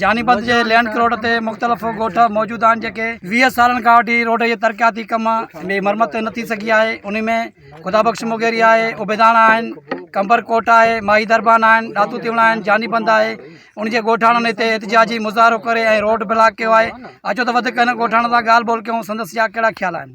جانيپت جي لينڊ ڪروٽ تي مختلف ڳوٺ موجود آهن جيڪي ويهه سالن کان وٺي روڊ جي ترقياتي ڪم ۾ مرمت نه ٿي سگهي آهي انهي ۾ خدا بخش مغيري آهي عبيداڻا آهن قمبر ڪوٽ آهي ماهي دربان آهن ڏاتو تيوڻا آهن جاني بند آهي ان جي ڳوٺاڻن هتي احتجاجي مظاهرو ڪري ۽ روڊ بلاڪ ڪيو آهي اچو ته وڌيڪ هن ڳوٺاڻن سان ڳالهه ٻولهه ڪيون سندس جا ڪهڙا خيال آهن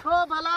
ڇو ڀلا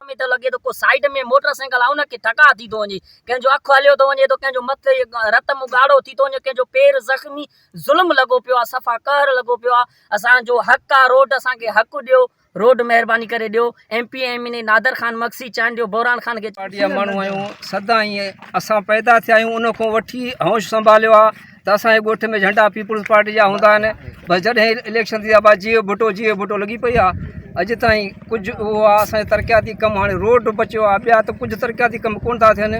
۾ ته لڳي ٿو ڪو سائيڊ ۾ موٽر سائيڪل آ ان کي ٽڪا ٿي ٿو وڃي ڪنهن جو اک هليو ٿو وڃي ته ڪنهن جو مٿي رت مون ڳاڙهو ٿي ٿو وڃي ڪنهن جو پير زخمي ظلم لڳو پيو آ صفا قهر لڳو پيو آ اسان جو حق آ روڊ اسان کي حق ڏيو روڊ مهرباني ڪري ڏيو M P M N A Nadir Khan Magsi Chandio Boran Khan کي پارٽي جا ماڻهو آهيون سدا ائين اسان پيدا ٿيا آهيون ان کان وٺي هوش سنڀاليو آهي ته اسان جي ڳوٺ ۾ جهنڊا پيپلز پارٽي جا هوندا آهن بس جڏهن اليڪشن ٿيندا بس جيئي ڀٽو جيئي ڀٽو لڳي پئي آهي اڄ تائين ڪجهه اهو آهي اسان جي ترقياتي ڪم هاڻي روڊ بچيو آهي ٻيا ته ڪجهه ترقياتي ڪم ڪونه ٿا ٿين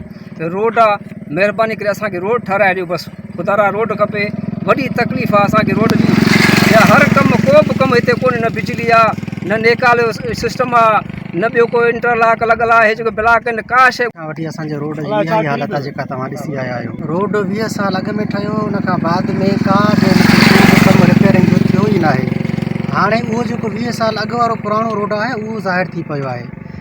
روڊ آ مھرباني ڪري اسان کي روڊ ٺھرائي ڏيو بس خدا را روڊ کپي وڏي تڪليف آ اسان کي روڊ جي ٻيا ھر ڪم ڪو به ڪم ھتي ڪوني نه بجلي آ نه نيڪال جو سسٽم آ نه ٻيو ڪو انٽرلاڪ لڳل آ ھي جيڪو بلاڪ ھين ڪا شي کان وٺي اسان جي روڊ جي اھا ھي حالت آ جيڪا توھان ڏسي آيا آھيو روڊ ويھه سال اڳ ۾ ٺھيو ان کان بعد ۾ ڪا به ان کي ڪو به ڪم رپيرنگ جو ٿيو ئي ناھي ھاڻي اھو جيڪو ويھه سال اڳ وارو پراڻو روڊ آھي اھو ظاھر ٿي پيو آھي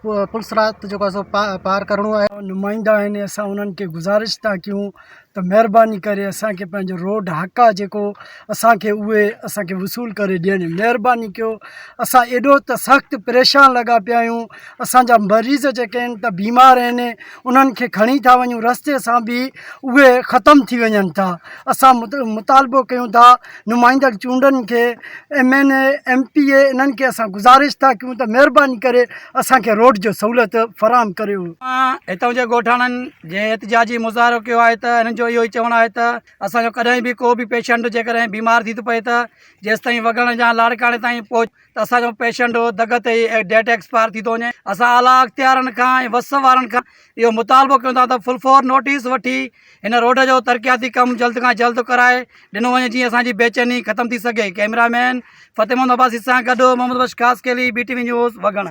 پلصراط جيڪو آهي سو پا پار ڪرڻو آهي نمائندا آهن اسان انهن کي گذارش ٿا ڪيون ته مهرباني ڪري اسانکي پنهنجو روڊ حق آهي جيڪو اسانکي اهي اسانکي وصول ڪري ڏين مهرباني ڪيو اسان ايڏو ته سخت پريشان لڳا پيا آهيون اسانجا مريض جيڪي آهن ته بيمار آهن انهن کي کڻي ٿا وڃون رستي سان به اهي ختم ٿي وڃن ٿا اسان مطالبو ڪيون ٿا نمائندڙ چونڊن کي M N A M P A انهن کي اسان گذارش ٿا ڪيون ته مهرباني ڪري اسانکي روڊ جو سهولت فراهم ڪريو هتان جي ڳوٺاڻن جي احتجاجي مظاهرو ڪيو آهي ته انهن جو اهو ئي چوڻ آهي ته اسانجو ڪڏهن به ڪو به پيشنٽ جيڪڏهن بيمار ٿي ٿو پئي ته جيستائين وڳڻ جا لاڙڪاڻي تائين پهچ ته اسان جو پيشنٽ دڳ تي ئي ڊيٽ ايڪسپائر ٿي ٿو وڃي اسان اعليٰ اختيارن کان ۽ وس وارن کان اهو مطالبو ڪيون ٿا ته فل فور نوٽيس وٺي هن روڊ جو ترقياتي ڪم جلد کان جلد ڪرائي ڏنو وڃي جيئن اسانجي بيچيني ختم ٿي سگهي ڪئميرا مين فتح محمد عباسي سان گڏ Muhammad Bakhsh Khaskheli B T V news وگهڻ